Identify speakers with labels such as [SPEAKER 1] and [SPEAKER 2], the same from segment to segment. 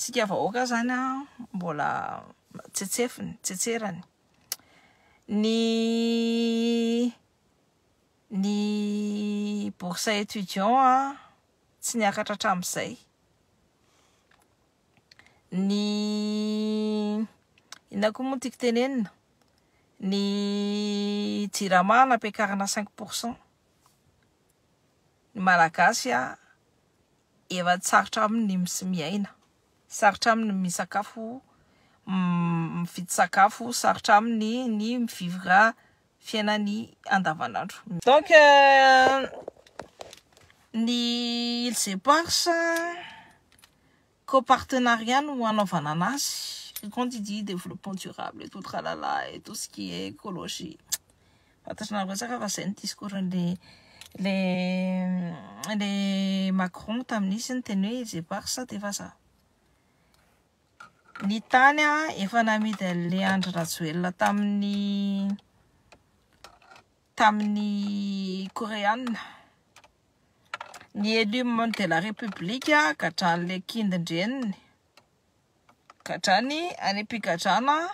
[SPEAKER 1] tsika vahoaka zany a mbola tsetsefiny tsetserany ny ny bourse étudiant a tsy niakatra hatramin'izay ny inona koa moa tiako tenenina ny jirama nampiakarina cinq pourcent ny malagasy a Efa tsarotra aminy ny mis miaina, sarotra aminy ny misakafo, mividy sakafo, sarotra aminy ny mi vivre fiainany andavanandro. Donc ny Îles Éparses co-partenariat no hanaovana anazy, quand il dit développement durable et tout tralala et tout ce qui est écologie. Fantatrareo betsaka fa izay ny discours an'ilay ilay Macron tamin'izy niteny hoe ils éparses dia vazaha. Ny tany efa namidy an'ilay Andry Rajoelina tamin'ny tamin'ny Koreana. Ny élu membre de la République gadrain'ilay kindin-dreniny. gadrany any am-pigadrana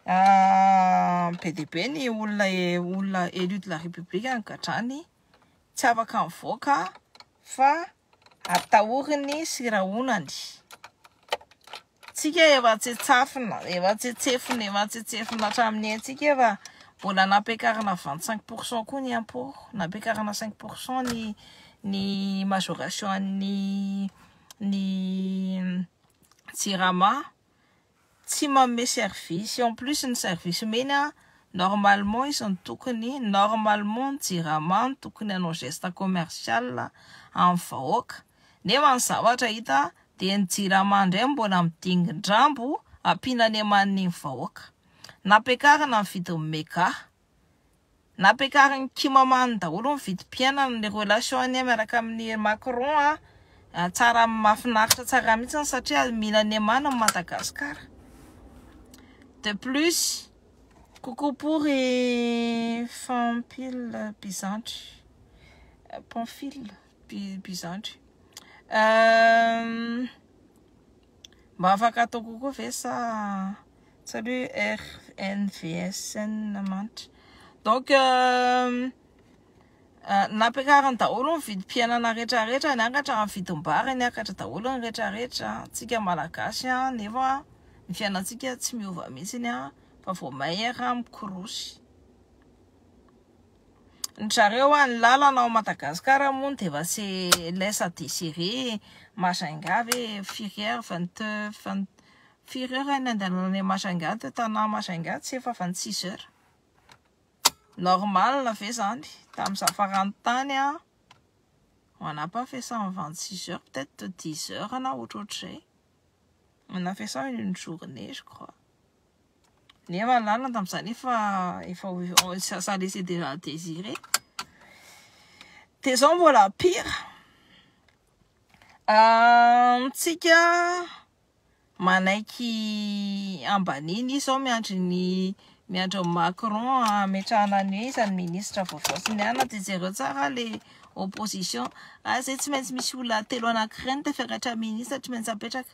[SPEAKER 1] ah, be dia be ny olona e, olona élu de la république any gadrany tsy afaka mivoaka fa atahoriny sy rahonany tsika efa tsetsafina efa tsetsefina efa tsetsefina hatramin'ny antsika efa mbola nampiakarina vingt cinq pour cent koa ny impôt nampiakarina cinq pour cent ny ny majoration an'ny ny jirama tsy manome service en plus ny service omeny a normalement izy no tokony normalement ny jirama no tokony hanao geste commercial amin'ny vahoaka nefa ny zavatra hita dia ny jirama indray no mbola midingin-drambo ampiana any amaniny ny vahoaka nampiakarina ny vidin'ny mega Nampiakarin'i Kim Aman daholo ny vidim-piainana ny relation anie miaraka amin'i Macron a! Tsara mafinaritra tsara mihitsiny satria mila ny Aman ny Madagascar. De plus, coucou pour i Fanpil Bizandry, Pamphile Bizandry. Mba afaka atao kokoa ve sa tsy aloha RNVSN manitra. Donc euh, euh, nampiakariny daholo ny vidim-piainana rehetrarehetra, niakatra ny vidim-bary, niakatra daholo ny rehetrarehetra. Tsika malagasy an, nefa ny fiainantsika tsy miova mihitsy an, fa vao maire mikorosy. Ny zareo an ny lalana ao Madagascar moa dia efa se laisse à desiree e, Majunga ve firy heure vingt vingt firy heure any andalana any Majunga teo Tanà Majunga tsy efa vingt six heure normal ve zany tamin'ny za farany tany an on n'a pas fait ça en vingt six heure peut etre dix heure na ohatrohatrizay on a fait ça en une journée je crois. Nefa lalina tamin'izaho nefa efa ça laissait déjà à désirer. Dia izao mbola pire. Amintsika manaiky hambaniny izy izao miandry ny miandry an'i Macron hametrahana ny hoe iza ny ministra vaovao sy ny anona. Dia jereo tsara ilay opposition. Ary izay tsy maintsy misy olona telo anankiray no tafiakatra ministra tsy maintsy apetraka.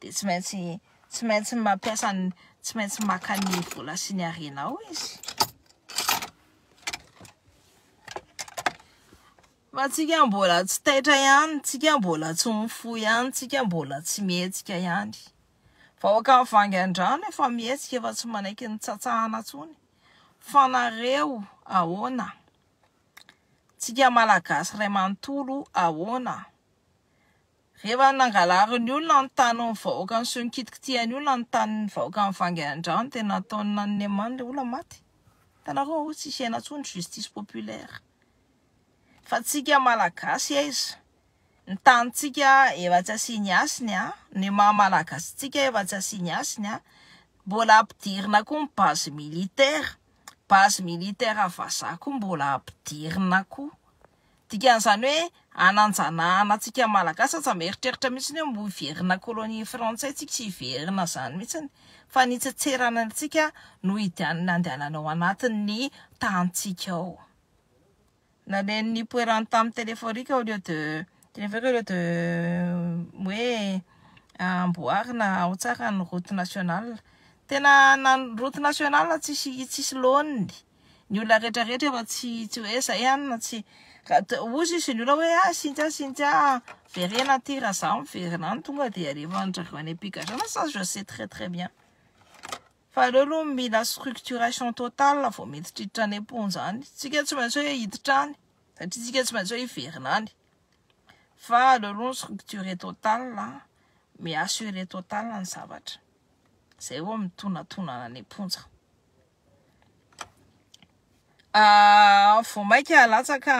[SPEAKER 1] dia tsy maintsy tsy maintsy mampiasa ny tsy maintsy maka ny vola sy ny arenao izy fa tsika mbola tsy taitra ihany tsika mbola tsy mifo ihany tsika mbola tsy mihetsika ihany vahoaka ny vangandrano efa mihetsika efa tsy manaiky ny tsatsahana tsony fa nareo ahoana tsika malagasy ray manontolo ahoana Rehefa nangalarin'ny olona ny tanin'ny vahoaka ny soa nikitikitihany olona ny tanin'ny vahoaka nivangy an-drano dia nataon'i Nannemany ilay olona maty. Hitanareo ao hoe tsisy aina intsony justice populaire. Fa antsika malagasy aiza? Ny tanintsika efa tsy asiany hasiny an! Ny maha malagasy antsika efa tsy asiany hasiny an! Mbola ampidirina koa ny base militaire, base militaire vazaha koa mbola ampidirina koa. Dikan'izany hoe hananjanahana antsika Malagasy aza mieritreritra mihitsy hoe mbo hiverina colonie frantsay tsika sy hiverina izany mihitsy fa ny hitsetserana antsika no hidian'ny handehanana ao anatin'ny tanintsika ao. Naleny nipoirany tamin'ny téléphorique au lieu de téléphorique au lieu de hoe amboarina ao tsara ny route nationale. Tena na ny route nationale tsisy tsisy laoniny. ny olona rehetra rehetra efa tsy tsy hoe zay any na tsy ozy izy ny olona hoe ah Cynthia Cynthia verena aty raha za miverina any tonga dia alefa andrareo any am-pigadrana ça je sais très très bien fa aleo aloha mila structuration totale vao miditra hiditra any am-ponja any tsika tsy maintsy hoe hiditra any satria tsika tsy maintsy hoe hiverina any fa aleo aloha ny structure totale mi-assurer totale ny zavatra zay vao mitonatonana any am-ponja Vao mainka latsaka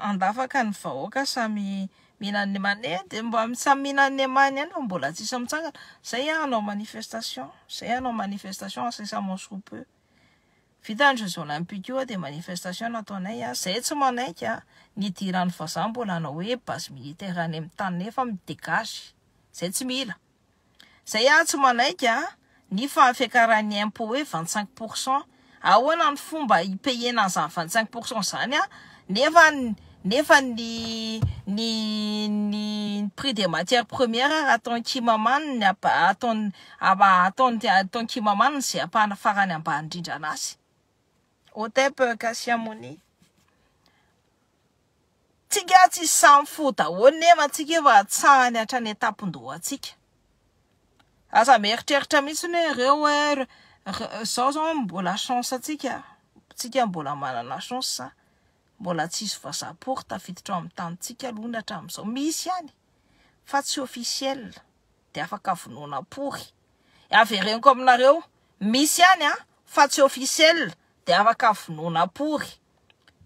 [SPEAKER 1] an-dafaka ny vahoaka samy mihinana ny emany, eh dia mba samy mihinana ny emany ihany fa mbola tsisy mitsangana, zay ah hanao manifestation, zay ah hanao manifestation incessamment sous peu, vita ny jeux olympiques io ah dia manifestation no ataonay ah, zay tsy manaiky ah ny hidiran'ny vazaha mbola hanao hoe base militaire any amin'ny taniny nefa mi-dégage, zay tsy mila. Zay aho tsy manaiky a, ny fahafiakaran'ny impôt hoe vingt cinq pour cent, ahoana ny fomba hipayena an'izany vingt cinq pour cent izany a, nefa nefa ny ny ny prix des matières premières ary ataon'i Kimamany ny ataon'ny ataon'ny ataon'i Kimamany izay ampahana farany ambany indrindra anazy. Otep Kassiamoni. Tsika tsy samy fo daholo nefa antsika efa hatsahany hatrany an-tampon-dohantsika. Aza mieritreritra mihitsy hoe ireo hoe izao izao mbola chance antsika, tsika mbola manana chance, mbola tsy hisy vazaha pory tafiditra ao amin'ny tanintsika aloha ny hatramin'izao. Misy ihany fa tsy officiel dia afaka vonoina pory. Avereniko aminareo, misy ihany fa tsy officiel dia afaka vonoina pory.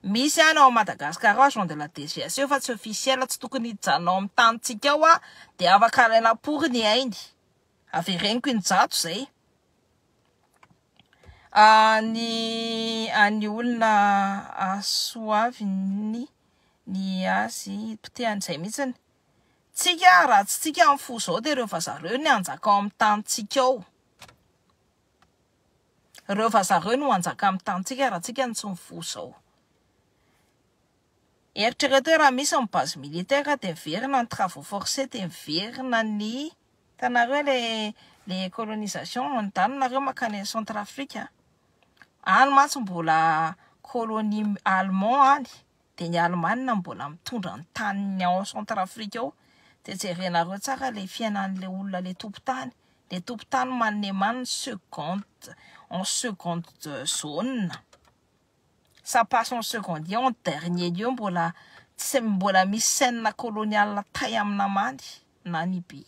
[SPEAKER 1] Misy any ao Madagascar ao agent de la DGS eo fa tsy officiel tsy tokony hijanona ao amin'ny tanintsika ao aho dia afaka alaina apory ny ainy avereniko injato zay any any olona asoaviny ny azy potehany zay mihitsiny tsika raha tsy tsika amin'ny fo zao dia ireo vazaha ireo ny hanjaka ao amin'ny tanintsika ao Ireo vazaha ireo no hanjaka amin'ny tanintsika raha tsika no tsy mivoha izao. Eritrereto hoe raha misy ny base militaire dia miverina ny travaux forcés dia miverina ny hitanareo ilay ilay colonisation mandalo nareo mankany any centrafrique a! Any mantsy mbola colonie allemand any Dia ny Alemana mbola mitondra ny taniny ao Centrafrique ao, dia jerenareo tsara ilay fiainan'ilay olona ilay tompon-tany, ilay tompon-tany maneman ny seconde en seconde de zone, ça passe en seconde lieu, en dernier lieu mbola tsy mbola misy scène coloniale tay amin'ny namany na ny biby.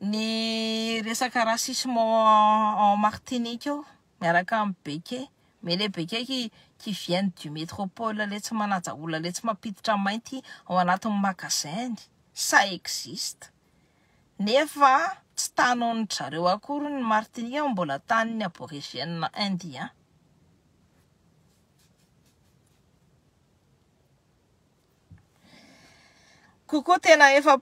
[SPEAKER 1] Ny resaka racisme en Martinique ao miaraka amin'ny beke, mais le beke qui qui viennent du métropole le tsy manaja olona le tsy mampiditra mainty ao anatin'ny magasin, ça existe nefa tsy tanin-dry zareo akory ny Martinique fa mbola tanin'ny aborigène indien. Kokoa tena efa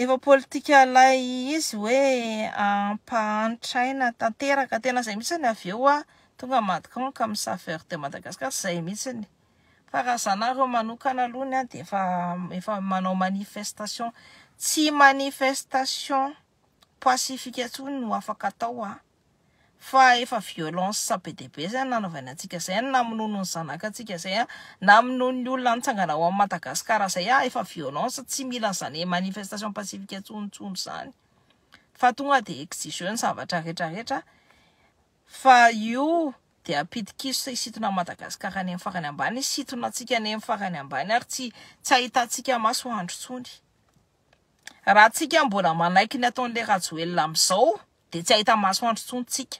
[SPEAKER 1] efa politika ilay izy hoe hampahantra aina tanteraka. Tena izay mihitsy ny avy eo tonga Macron ka mi-saveur de Madagascar, tsy izay mihitsy. Fa raha izaho nareo manokana aloha ny ahy dia efa efa manao manifestation, tsy manifestation pacifique intsony no afaka atao an! fa efa violence be dia be zay no nanaovaina antsika zay no namonoany ny zanaka antsika zay an, namonoany ny olona nitsangana ao am Madagascar zay an, efa violence tsy mila zany manifestation pacifique intsony intsony zany fa tonga dia exigeo ny zavatra rehetra rehetra fa io dia pitikiso hisintona an Madagascar any am farany ambany, hisintona antsika any am farany ambany ary tsy tsy ahitantsika masoandro intsony. Raha tsika mbola manaiky ny ataon'i le Rajoelina amizao de tsy ahita masoandro tsony tsika.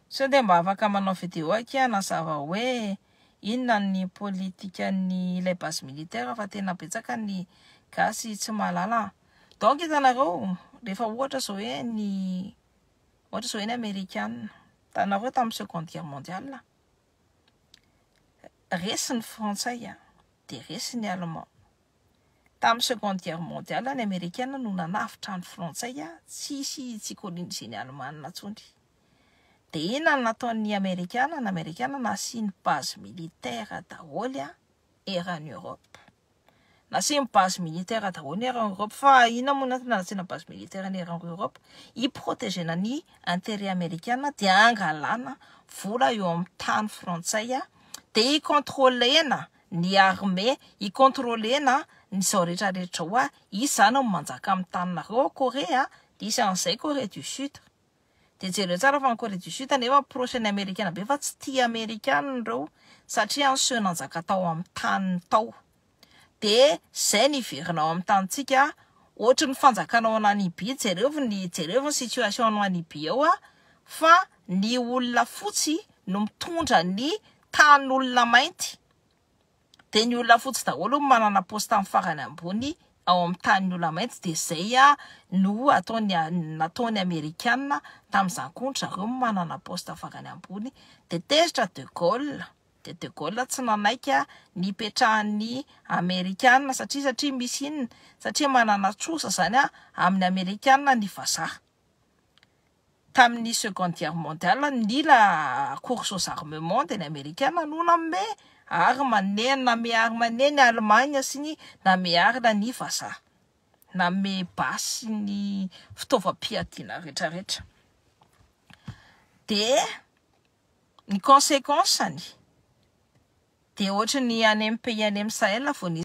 [SPEAKER 1] Sao dia mba afaka manao video akia hanazava hoe inona ny politikan'ny ilay base militaire fa tena betsaka ny gasy tsy mahalala an. Donc hitanareo rehefa ohatra zao hoe ny ohatra zao hoe ny amerikana hitanareo tamin'ny seconde guerre mondiale. resy ny frantsay an, dia resy ny allemand. Tamin'ny seconde guerre mondiale ny amerikana no nanavotra ny frantsay an, tsy hisy tsy hi-coloniser ny alemana intsony. Dia inona no nataon'ny amerikana? Ny amerikana nasiany base militaire daholo an, eran'ny europe. Nasiany base militaire daholo ny Iran Europe fa inona moa natona nasiana base militaire ny Iran Europe? Hi protegena ny interet amerikana dia hangalana vola eo amin'ny tany frantsay dia hi controlena ny armée hi controlena ny zao rehetra rehetra zao, izy zany no manjaka amin'ny taninareo ao Corée dia isan'izay Corée du Sud. Dia jereo tsara fa ny Corée du Sud nefa proche ny amerikana be fa tsy tia amerikana ireo satria ny seho nanjaka tao amin'ny taniny tao. Dia izay no hiverina ao amin'ny tanintsika ohatry ny fanjakana ao Nanibia jereo ny jereo ny situation any Nanibia ao fa ny olona fotsy no mitondra ny tanin'olona mainty. dia ny olona fotsy daholo no manana poste amin'ny farany ambony ao amin'ny tanin'ny olona mainty dia izay no ataony nataony amerikana tamin'izany koa ny zareo no manana poste farany ambony dia tezitra de Gaulle dia de Gaulle tsy nanaiky ny hipetrahan'ny amerikana satria satria misy inona satria manana trosa izany amin'ny amerikana ny vazaha Tamin'ny Seconde Guerre Mondiale, nila Course aux Armements teny Amerikana no nanome arma ne nanome arma ne ny Allemagne sy ny nanome arna ny Vazaha. Nanome basy ny fitaovam-piadiana rehetra rehetra. Dia ny consequence-ny dia ohatry ny any amin'ny pays any amin'ny Sahel vao nisy.